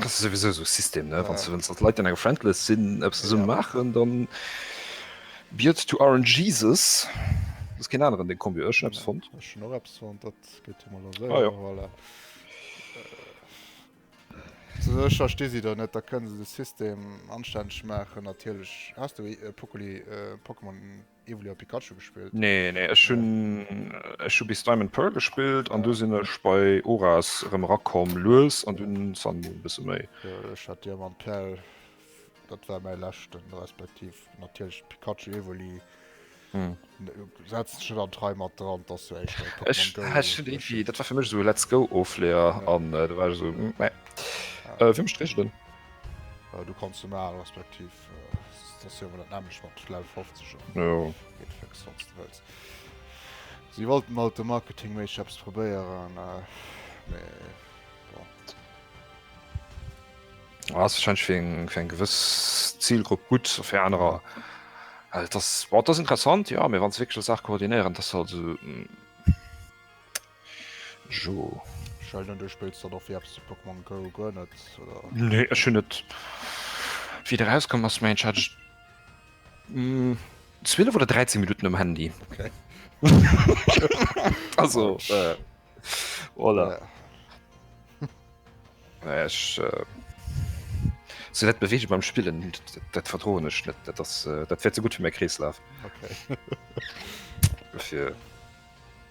Das sowieso so System ne wann ja. dat Leiit an eng Friendless sinn Apps ze summen ja. machen, dann Biiert to Aaron Jesus ass ken aneren de Kombi ech Apps fond. Ech no Apps fond dat gëtt mal se ah, ja. voilà. Zecher ste si der net, da kënnen se de System anstänneg machen natierlech hast du e Pokoli äh, Pokémon. Evoli a Pikachu gespillt? Nee, nee, ech hunn ech hu bis Diamond Pearl gespillt an du sinn ech bei Oras erëm erakomm lues an dunn Sun Moon bësse méi. Jo, ech hat Diamant Perl, dat war mäi leschten, respektiv natierlech Pikachu, Evoli. Hm. Setz dech net an d'Rei mat dran, dass du éischt bei Pokémon Ech Go ha schon irgendwie, losgehst. dat war fir mech so Let's Go Ofleer Ja. an äh, da war ech so, mm, nee. Äh, wéi mecht Regeln? Äh, Du kanns se maachen, respektiv Si wollten alt de Marketing méi Chefs probéieren. Ass schein fir eng gewëss Zielgrupp gutt fir anerer. Wat ass interessant? Jo, mir wann ze wéckel Saach koordinéieren, dat se also. Sure. Sheldon, du spills dann och fir eppes de Pokémon Go guer net, oder? Nee, ech hunn et wéi et erauskomm ass, mengen ech, hat ech 12 oder 13 Minutten um Handy. Okay. Also, äh, voilà. Ja. Naja, ech, äh, sou dat Beweege beim Spillen, dat, dat verdroen ech net. Dat ass, äh, dat wäert ze gutt fir mäi Kreeslaf. Okay. Fir.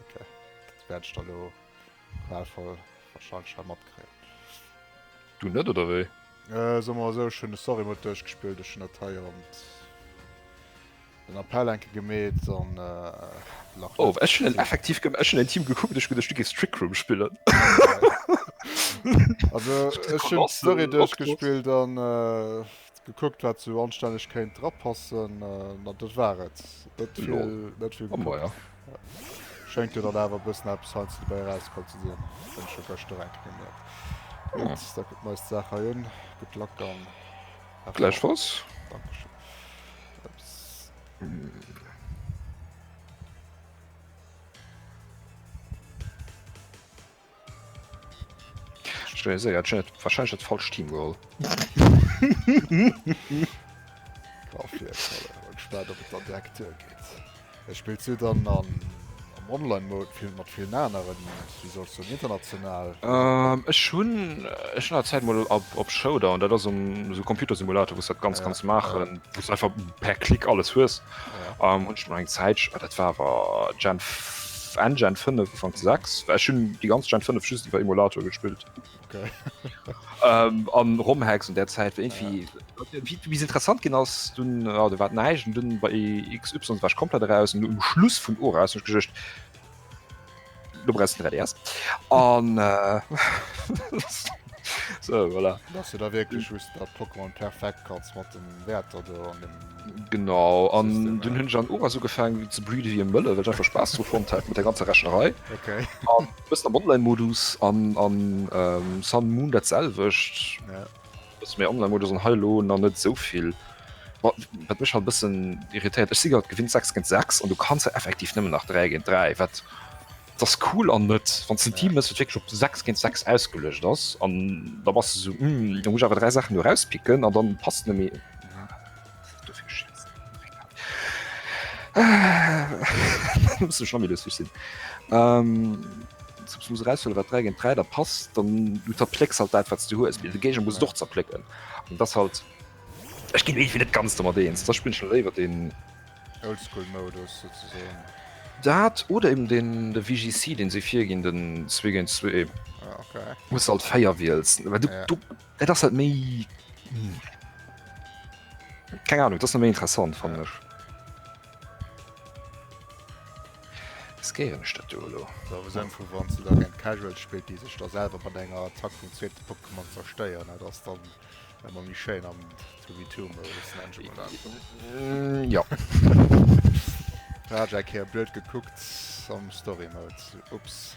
Okay, dat wäert ech da lo qualvoll wahrscheinlech hei matkréien. Du net oder wéi? Äh, soe mer esou, ech hunn de Story-Mode duerchgespillt, ech hunn dat hei an den Appell enke gemeet an äh, lach Oh, net ech hunn en ze. effektiv gem-, ech hunn en Team gekuckt, ech geduecht du géifs Trick Room spillen. Also, Ech ech hunn Koloss, d'Story Octopus. duerchgespillt an äh, gekuckt wat sou anstänneg kéint drapassen, an dat war et. Net Lol. vill, net vill Oh gekuckt. maja. Schéngt jo dann awer e bëssen eppes heiansdo dobäi erausgeholl ze sinn, hunn ech jo gëschter enk gemierkt. Gutt, da kucken mer eis d'Saach hei un. Gutt Luck an have fun. Gläichfalls. Dankeschön. Ups. wahrscheinlich das falsch Team geholt Er spielt du dann an online Mode viel mat viel naen wie sollst du international ähm, Ech hun Ech hun Zeit mal op, op Shoulder an dat ass um so Computersimulator wo dat ganz ganz machen einfach per Klick alles hues. An hunn ech mol eng Zäit, ah dat war awer Gen Enn Gen 5 ufank 6, well ech hunn déi ganz Gen 5 just iwwer Emulator gespillt. Okay. Ähm, an Romhacks un där Zäit war irgendwie wie du bis interessant ginn ass, dunn ah, do war näischt. An dunn bei XY war ech komplett eraus. An um Schluss vun Ora ass hunn ech geduecht, Du brauchst den 3DS. An. Äh, so, voilà. Dass du da wirklich just dat Pokémon perfekt kannst mat dem Wäerter do an dem. Genau an dun hunn an Ober so gefaangen wéi ze breede wie Mëlle, well einfach Spaß zu fond hat mat der ganzer Rechnerei. Okay. An, am Online-Modus an, an ähm, Sun Moon dat selwecht. Ja. Dass mäi Online-Modus an hei elo nach net esou vill. Ma wat mech halt e bëssen irritéiert, ech si grad gewinnt 6 géint 6 an du kanns jo effektiv nëmmen nach 3 géint 3, wat et ass cool an net. Wann s de en Team hues, wat wierklech op 6 géint 6 ausgeluecht ass an da bass de esou, Hm, da muss ech awer 3 Saachen do erauspicken an da passt net méi. Dofir schiessen. muss du schon wieder sich sinn. Ähm, sonst muss rausfüllen, was 3 gegen 3 da passt, dann du zerpleckst halt das, was du hues. Mir Gegner muss doch zerplecken. Und das halt. Ich ginn irgendwie net ganz damit eens. Da spielen schon léiwer den. Oldschool-Modus sozusagen. Dat oder eben den de VGC, den se virginn den 2 gegen 2. Ah, okay. Muss halt feier wiels. Weil du, Ja. du Et ass halt méi Keng Ahnung dat méi interessant fannech. Skeieren Stadt Dolo. Da wo sen vu wann ze da gen Casual spillt, déi sech da selwer mat enger Attack vum zweete Pokémon zersteieren, dat ass dann emmer méi schéin am 2v2 Modus ne Jumala? Jo. Hat eng Kéier blöd gekuckt am Story Mode, ups.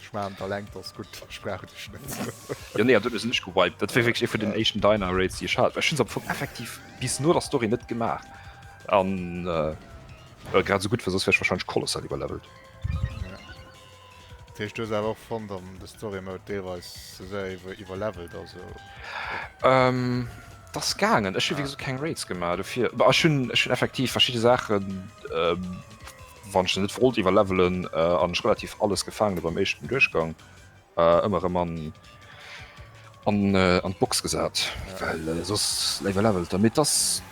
Ech man der lenkt ass gutt ech brauch dech net. Jo nee an dun ech se nech gewiped, dat war wierklech ee vun den éischten Diner Raids déi ech hat, ech hun se am Fong effektiv bis no der Story net gemaach an well grad esou gutt war, soss wär ech wahrscheinlech kolossal iwwerlevelt. Dat heescht du hues awer och fonnt datt de Story Mode deelweis ze séier iwwer iwwerlevelt ass oder? Et ass gaangen, ech hu wéi gesot keng Raids gemaach dofir, ma ech hunn ech hunn effektiv verschidde Saachen. wann ech net wollt iwwer levelen an ech relativ alles gefangen beim echten Duerchgang ëmmer äh, man an äh, an d'Box gesat ja. well äh, sos iwwer levelt der mit das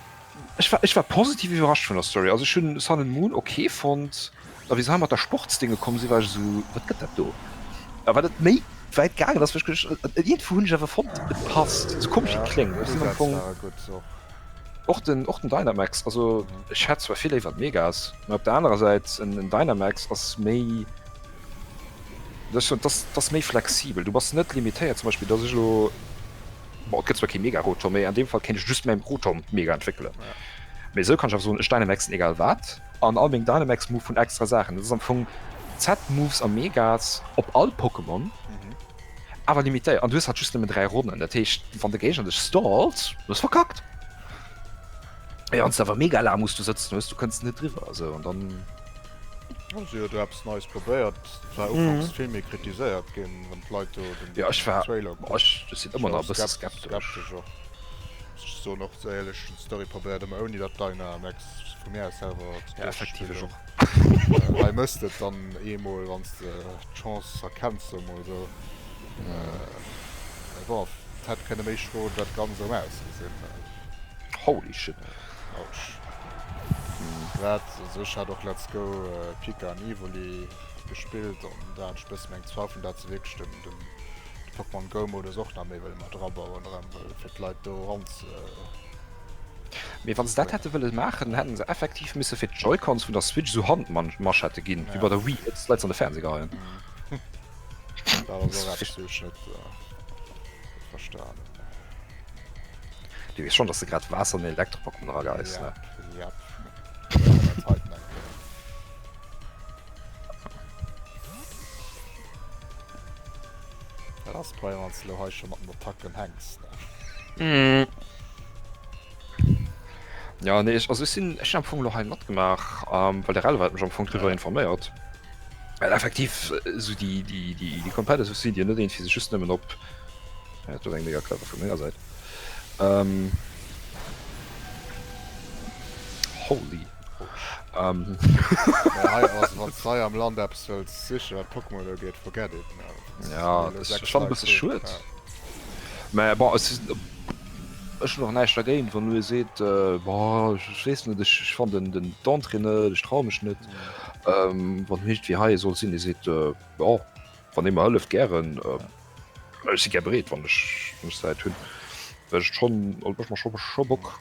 ech war, ech war positiv iwwerrascht vun der Story also schon Sun and Moon okay fond a wie mat der Sportsdinge kommen si war ich so wat gëtt dat do aber dat méi wäit gagen ass vu hunn awer fond passt kom kling gut. Och den och den Dynamax, also ech hätt zwar vill léiwer d'Megas, mä op der anerer Säit en en Dynamax ass méi, dass ech soen, dass dass méi flexibel. Du bass net limitéiert zum Beispill, dass ech elo, bon et gëtt zwar kee Mega-Rotor, mä an deem Fall kéint ech just mäin Rotor mat Mega entwéckele, mä esou kann ech awer soen, ech Dynamaxen egal wat an all meng Dynamax-Move hunn extra Saachen. Dat ass am Fong Z-Moves a Megas op all Pokémon. Awer limitéiert an du hues hat just nëmmen 3 Ronnen, dat heescht wann de Géigner dech stallt hues verkackt. Mee wann s de awer mega laang muss du sëtzen hues, du kënns net driwwer esou an dann. Hu se jo do eppes Neies probéiert, et war ufanks vill méi kritiséiert ginn, wann d'Leit do den Trailer kucken. Jo ech war, ech sinn ëmmer nach e bësse skeptesch och, muss ech soen, och déi éierlech hunn d'Story probéiert, ëmmer ouni dat Dina an Ex vu mir aus selwer ze duerchspillen. Hei mësst et dann eemol, wann s de d'Chance erkenns, soe mol esou. Mee bon, et hätt kënne méi schroen, dat kann esou ausgesinn. Holy shit. Ouch. Grad esou, ech hat och Let's Go Pika an Evoli gespillt an da hat ech bëssen eng Zweifeln, dat se wierklech den Pokémon Go Modus och nach méi wëlle mat erabauen, erëm wëll, fir d'Leit do eran ze. Mee wann se dat hätte wëlle maachen, dann hätte se effektiv misse fir d'Joy-Cons vun der Switch esou Handmanschetten ginn, wéi bei der Wii, fir d'Leit se an de Fernseh geheien. Dat ass och eppes, wat ech net verstanen hunn. Du weess schonn, dass de grad Waasser an den Elektropackung erageheis, ne? Jep, jep. Léieren dat heiten eng Kéier. Dat ass prima, wann s de elo hei scho mat den Attacken hänks, Mm. Ja nee ech also ech sinn ech am Fong lo hei matgemaach, ähm, well de Rel wat mech am Fong driwwer informéiert. Well effektiv äh, so déi déi déi déi komplette Souci Dir net een fir sech just nëmmen op ja, dat war eng mega clever vun menger Säit. Ähm, holy. Ähm, Ja, hei ass, wann du hei am Land eppes wëlls sichen, wat Pokémon ugeet, forget it. Ja, das ist schon ein bisschen schuld. Mä bon, es ist, ech hun och näischt dergéint, wann du seet äh, bon, ech weess net, ech ech fan den den d'Entrée net, ech traue mech net. Ähm, wann hicht wie hei soll sinn, dee seet äh, bon, wann ee mer hëlleft, gären. Äh, ech si gär bereet, wann ech mech Säit hunn, well ech schon, also mech macht schon schon Bock.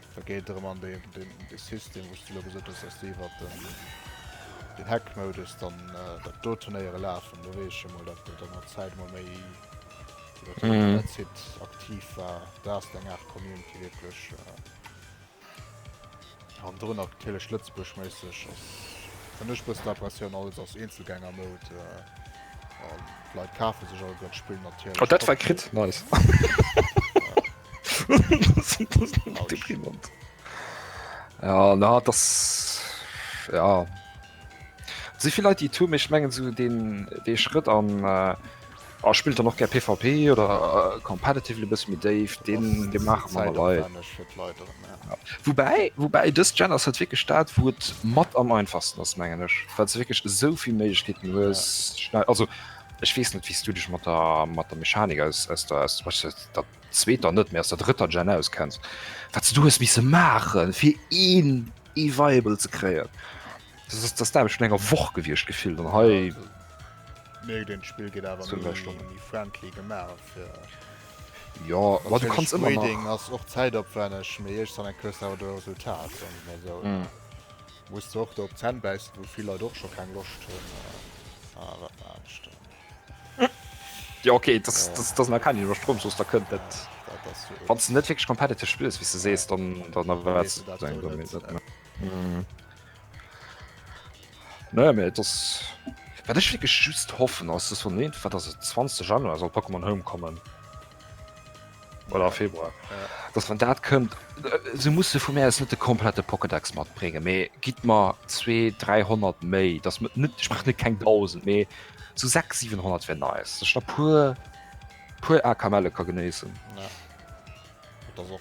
Da geet et erëm an dee System, wou s de elo gesot hues, datt déi iwwer den Hack-Modus dann dat do Turnéiere lafen. Do weess ech emol, datt et an der Zäit emol méi iwwer den Internetsite aktiv war. Do ass et eng Aart Community wierklech. An dorunner natierlech Lëtzebuerg-méisseg ass, fënn ech, e bëssen Aberratioun, alles ass Eenzelgänger-Mode. D'Leit kafe sech alleguer d'Spill natierlech. Oh, dat war crit. Nice. ja na das ja si viel Leute die tu michch mengen zu den de Schritt an äh, oh, spielt er noch ger PVP oder äh, competitive bis mit Dave den de machen wobei wobei das Gen hat wirklich staat wo matt am einfachsten das mengen ich falls wirklich so viel Mkeeten ja. also die Ech weess net, wéi s du dech mat der Mechanik aus der zweeter net, mee aus der drëtter Gen auskenns, wat se do hues misse maachen, fir een E-Viable ze kréien. Dat ass d'Aarbecht vun enger Woch gewiescht, gefillt. An hei. Mierkt een, d'Spill geet awer méi friendly gemaach fir. Jo, ma du kanns ëmmer nach. Natierlech, Breeding ass och zäitopwänneg, mee iergstwann eng hues de awer de Resultat, soen ech mol esou. Muss och do op Zänn bäissen wou vill Leit och scho keng Loscht hunn a wat war anescht do? Jo ok, dat ass nach keng Iwwerstroum, soss da kënnt dat. Wann s de net wierklech competitive spills wéi s de sees, dann erwaarts de dat elo net. Naja mee et ass, wat ech wierklech just hoffen ass, dass wann iergendwann, dass et 20 Januar soll Pokémon Home kommen. Oder Februar dass man dat kënnt se musse vu Mä net de komplette Pocketdax mat bringe méi gitt mar 2300 méi dat mat net sprach net keng 1000 méi zu 6 700 wenn neis der pur pur a kamelle ka geneessen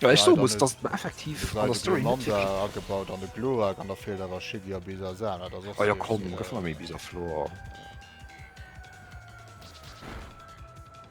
Ech so muss dat effektiv an der Story agebaut an de Glo an der Fehler war schi a bis a sa dat och eier kommen gëff méi bis a Flor.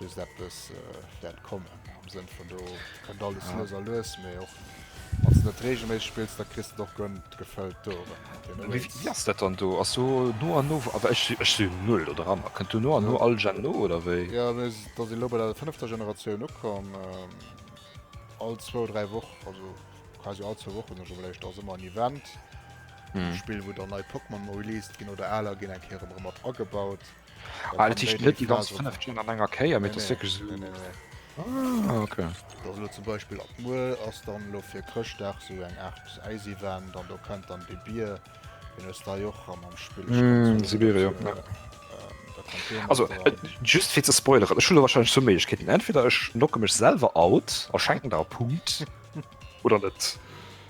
Just eppes wäert kommen, am Sënn vun do kënnt alles lues a lues, mee och wann s de net reegelméisseg spills, da kriss de och gönn gefëllt Touren. Wéi ass dat dann do? Ass do no an no, awer ech si ech si null do dran, a kënnt do no an no all Gen no oder wéi? Jo, mir s da si lo bei der fënnefter Generatioun ukomm. All zwou, dräi Woch, also quasi all zwou Wochen ech iwwerlescht, ass ëmmer en Event, e Spill, wou dann nei Pokémon released ginn oder aler ginn eng Kéier erëm erëm mat agebaut. Alter, ich net die ganze 5 Stunden an enger Keier, mit das wirklich so... Ah, okay. Das lo zum Beispiel ab muer ass dann lo fir Chrëschtdag so eng Art Eis-Event, an do kënnt dann de Bier, den hues da jo och am am Spill. Mm, Sibir, ja. Äh, also äh, just fir ze spoileren Schule wahrscheinlich zu Mechkeeten entweder ech nocke mech selber out erschenken da Punkt oder net.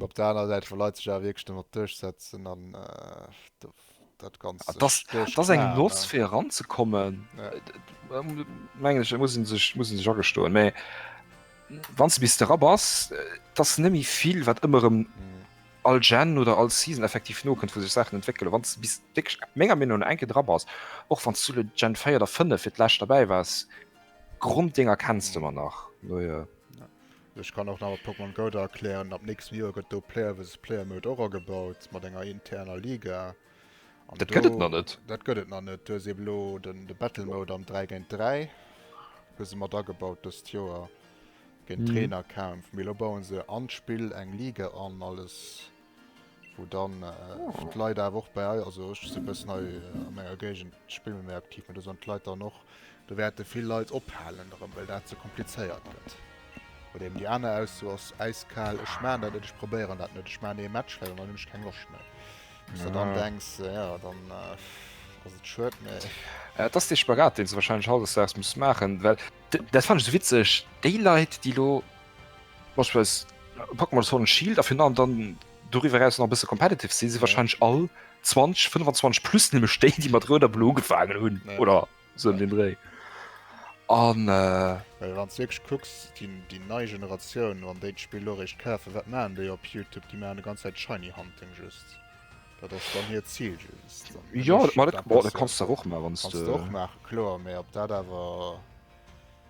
Op der aner Säit vu Leiit sech awer wierklech domat duerchsetzen an äh, dat ganz. Ah, das ass eng Loss fir eranzekommen. Ja. Äh, äh, Menglech muss sech muss sech agestoen. Mä wann ze bis de Rapp ass, äh, dats nëmi vill wat ëmmerem. Mhm all Gen oder all Season effektiv no kënnt vu sech Sachen entwéckele wann ze bis déck méger Min enke dra ass och van zule Gen féier der fënne fir d'lächt dabei wars Grund Dinger kennst du man nach no, ja. Ja. Ech kann och nach mat Pokémon Go da erklären, ab nächstem Joer gëtt do Player versus Player Mode och agebaut mat enger interner Liga. An dat do, gëtt et nach net. Dat gëtt et nach net. Du hues eben elo den de Battle Mode am 3 géint 3 hu se mat agebaut dëst Joer, géint Trainerkämpf. Mee elo bauen se an d'Spill eng Liga an alles. wou dann d'Leit awer och bei, also ech si bëssen hei a menger Géigend spille mir méi aktiv, mä do sollen d'Leit dann och, do wäerte vill Leit ophalen erëm, well dat ze komplizéiert gëtt. Oder eben déi aner Ausso ass äiskal, ech maachen dat net, ech probéieren dat net, ech maachen ee Match, well an dann hunn ech keng Loscht méi. Wou s de dann denks, jo, dann ass et schued, mä. Et ass dee Spagat, deen s de warscheinlech hautdesdaags muss maachen, well dat fannen ech esou witzeg, déi Leit, déi elo Beispillsweis packe mer Sword and Shield a fir an dann doriwwer eraus nach e bësse competitive si si wahrscheinlech all 20 25 plus nëmme Stéit, déi mat Rout a Blo ugefaangen hunn oder sou ëm den Dréi. An Well wann s de wierklech kucks, déi déi nei Generatioun, wann déi d'Spill elo eréischt kafen, wat maachen déi op Youtube? Déi maachen e ganz Zäit Shiny Hunting just. Dat ass dann hiert Zil just. An Jo, dat ma dat, ma dat kanns du awer och maachen, wann s du. Kannst du och maachen, kloer, mä ob dat awer.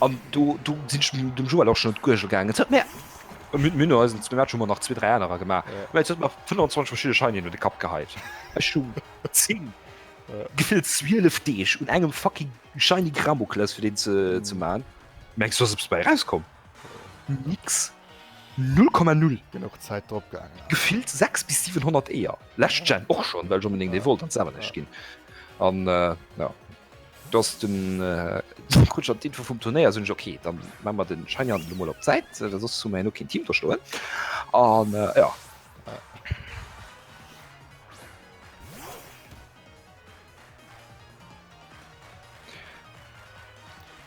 An do sinn ech dem Joël och schonn un d'Guergel gaangen. Et huet mir, mir hunn no eisen zwee Matcher ëmmer nach zwee, dräi anerer gemaach, mä et huet mer 25 verschidde Scheinien un de Kapp geheit. Ech hu zéng, gefillt zwielef Deeg un engem fucking Scheini Gramokles fir deen ze maachen. Mengs du, ass eppes bei erauskomm? Nix! Null Komma Null! Genuch Zäit drop gaangen. Gefillt 600 bis 700 Eeër, lescht Gen och schonn, well ech onbedéngt ee wollt an d'selwer näischt ginn. An jo. dass den äh, Kutscher d'Info vum Turnéier sinn ok, dann man man den Schein an Lummel op Zäit, äh, sos zu méi no kein Team verstoen an äh, ja.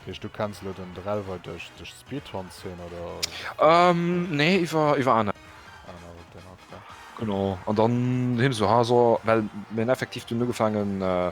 Hech du kennst lo den Drelwer duerch duerch Speedhorn sinn oder? Ähm, nee, iwwer iwwer aner. Genau an dann hin so ha so well men effektiv du ugefaangen äh,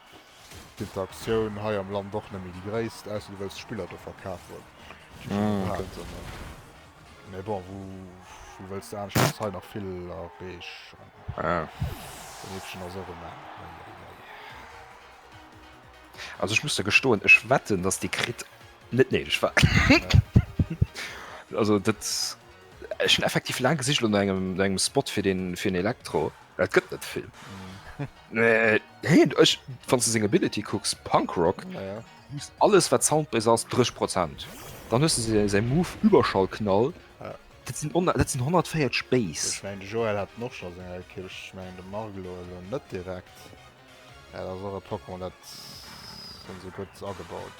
D'Interaktioun hei am Land och nemmi déi gréisst, ausser du wëlls d'Spiller do verkafen, déi scho gepaakt sinn. Mee bon, wou wëlls de anescht, ass hei nach vill a Reeg an Beneeftchen ass och e Main. Also ech muss der gestoen, ech wetten, datt dee Crit net néideg war. Also dat, ech hunn effektiv laang gesicht elo no engem, no engem Spot fir deen, fir en Elektro, mä et gëtt net vill. Nee, ech wann ze seng Ability kucks Punkrock alles wat Sound bei ass 3 Prozent dann hues se se Mo überschall knall Dat sinn 104 Space mein, Joel hat noch schon Kirch mein, de Mar net direkt Pokémon dat so gut agebaut.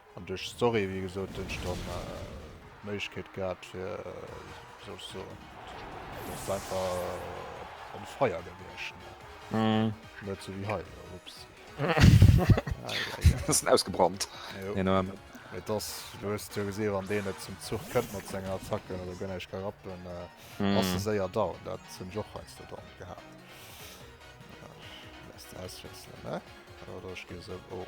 An duerch d'Story, wéi gesot, hunn ech dann d'Méiglechkeet gehat, fir, wéi soll ech soen, et ass einfach en Feier gewiescht, net esou wéi hei elo, ups. Bëssen ausgebrannt. Jo, mee et ass, du hues jo gesinn, wann deen net zum Zuch kënnt mat sengen Attacken oder guer näischt ka rappen, ass e séier down. Dat hunn ech och heiansdo dann gehat. Lässt auswiesselen, ne? Oder ech gi esou, oh.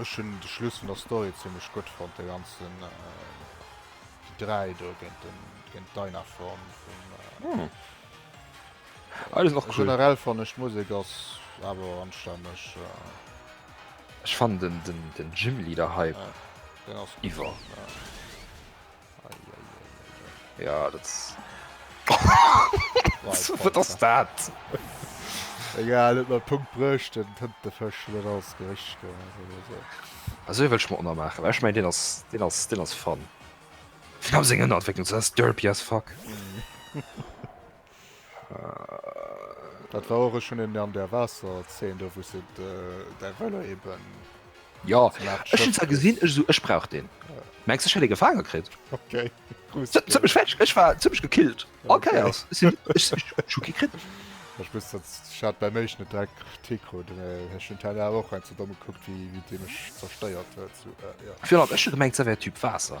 Ech hunn de Schluss vun der Story zimlech gutt fonnt, de ganzen Gedräi do géint den géint d'Dynaform vum Hm Alles nach cool. Generell fannen ech d'Musek ass awer anstänneg. Ech fannen den den den Gym Leader hei iwwer. Ja dat wat ass dat? Egal et mat Punkt brëcht den tënt de Fësch net als Gericht ge. Also wëlch mat ënnermaachen Ech méi Dinn ass Dinn ass Dinn ass fan. Fir am seng ënner Entwécklung ze ass derpy as fuck. Dat war och ech hun en an der Waasser zeen do wou se däi Velo eben. Jo ech hun zwar gesinn ech sou ech brauch deen. Mengs ech hätt ee gefaange kritt? Ok zimmlech fertig ech war zimmlech gekillt all Kéiers ech sinn ech ech hu kee kritt. Ech muss dat ech hat bäi méich net direkt Kritik krut ech hun d'Hänn awer och hei ze domm gekuckt wéi wéi dee mech zersteiert huet sou jo. Fir an ech hu gemengt se wär Typ Waasser.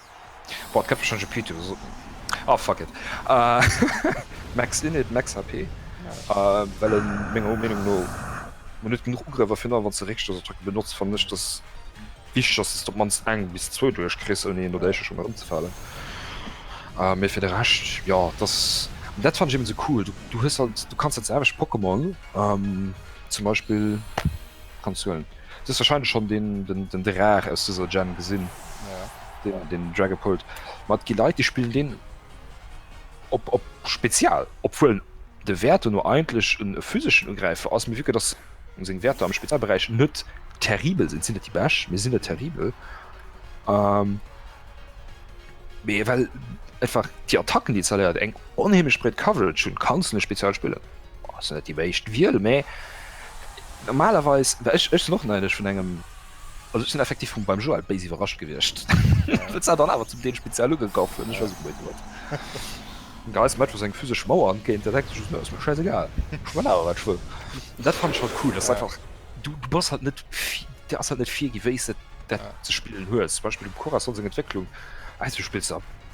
Boah, d'Käpp schon GP to so. Ah, fuck it. Uh, max Init, max HP. Uh, well en menger Meinung no net genug Ugriffer fir wann ze Richter so drücken benutzt fan nech das wichtig ass dass du mans eng bis zwo duerch kriss un een oder schon mal umzefallen. Uh, mé fir de recht ja das dat fand ich eben so cool. Du, du hues halt du kannst dat selwech Pokémon um, zum Beispiel Kanns du huelen. Du hues wahrscheinlech schonn den Draach aus dëser Gen gesinn, den Dragapult. Ma et gi Leit, déi spillen deen op Spezial, obwuel de Wäert do no eigentlech e physeschen Ugräifer ass, mee vu que dass seng Wäerter am Spezialberäich net terribel sinn, sinn et déi Bescht, mee se sinn net terribel. Mee well einfach déi Attacken, déi en zerléiert, eng onheemlech breet Coverage hunn, kanns du en Spezial spillen. Boah, sinn net déi meescht Wiel, mee normalerweis, well ech, ech sinn och neidesch vun engem, also ech sinn effektiv vum beim Joël béis iwwerrascht gewiescht. Dat sah dann awer zum Deel speziell ugekaf hunn, ech weess net wou hien huet. Den Geiz mäit wou seng physesch Mauer entgéint, dat denkt sech just, Nö, ass mir schäisegal, ech man awer wat ech wëll. An dat fannen ech halt cool, dass se einfach, du, du bass halt net vi, dir ass halt net virgi wéi s de dat ze spillen hues. Zum Beispill dem Cora Song seng Entwécklung, weißt du, du spills da,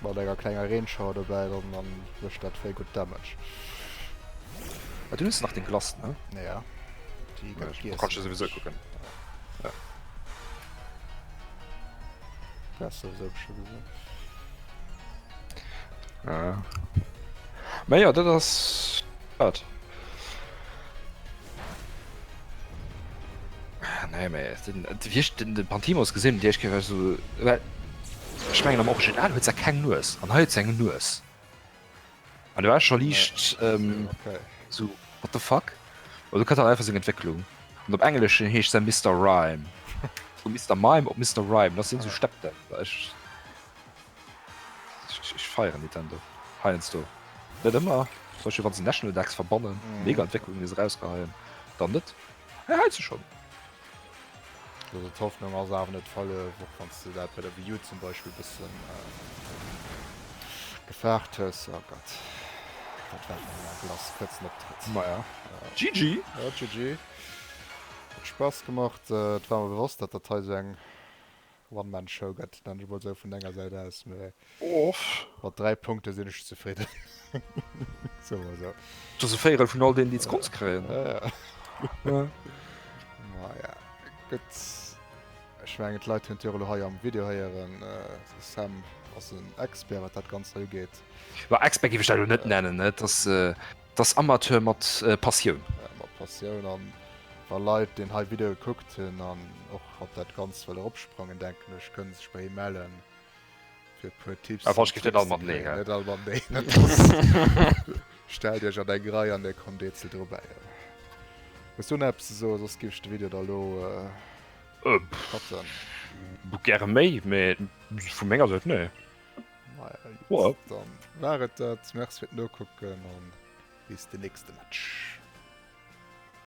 Mat enger klenger Reenshower dobäi dann dann mécht dat wéi gutt Damage. Ah, du hues nach deng Glace, ne? Ja. Déi gëtt Ech kann gegessen. souwisou kucken. Ja. Wärst du sou bestimmt gesinn. Ja. Mä jo, dat ass dat. Ah, nee, mais den, den, den, den Pantimos gesinn, Dir ech so, well ech mengen am Original huet er keng Nues an hei eng Nues. An du war schon liicht nee. ähm, okay. so what the fuck? Oder du kann er einfach seg Entwicklung. Und op engleschen heescht se Mister Rhyme. Vu Mister Mime op Mister Rhyme, dat sinn so Steppdämpfer. Ech feieren Nintendo heiansdo. Net ëmmer, zum Beispill wann se National Decks verbannen, mega Entwécklungen déi se erausgeheien, dann net, mä heiansdo schonn. Also d'Hoffnung ass awer net verluer, och wann s de dat bei der Wii U zum Beispill e bëssen gefaart hues. Oh Gott, dat war eng laang Glace, kuerzen Optrëtt. Maja, GG! Ja, GG. Huet Spaass gemacht. Et war mer bewosst, datt dat hei esou eng. One-Man-Show gëtt, nenne ech emol esou, vun denger Säit aus. Mee mat dräi Punkte sinn ech zefridden. Soe mer esou. Dat ass e Véierel vun all deenen, déi d'Sconce kréien. Ja, ja. Maja, gutt. Ech mengen, d'Leit hunn et jo elo hei am Video héieren, de Sam ass en Expert, wat dat Ganzt hei ugeet. Expert géif ech dat elo net nennen. Et ass. 't ass Amateur mat Passioun. Mat Passioun an wa Leit deen hei Video gekuckt hunn an och op dat Ganzt wëlle ropsprongen, denken ech kënne sech bei him mellen fir e puer Tipps an Tricks ze kréien. Net all mat Nee, net all. Stellt iech an eng Rei an dir kommt eenzel dobäi. Hues du nach eppes ze soen, soss giff ech de Video da lo cutten. Gäre méi, mee vu menger Säit nee. Wow. Dann war et dat. Merci fir d'Nokucken an bis de nächste Match.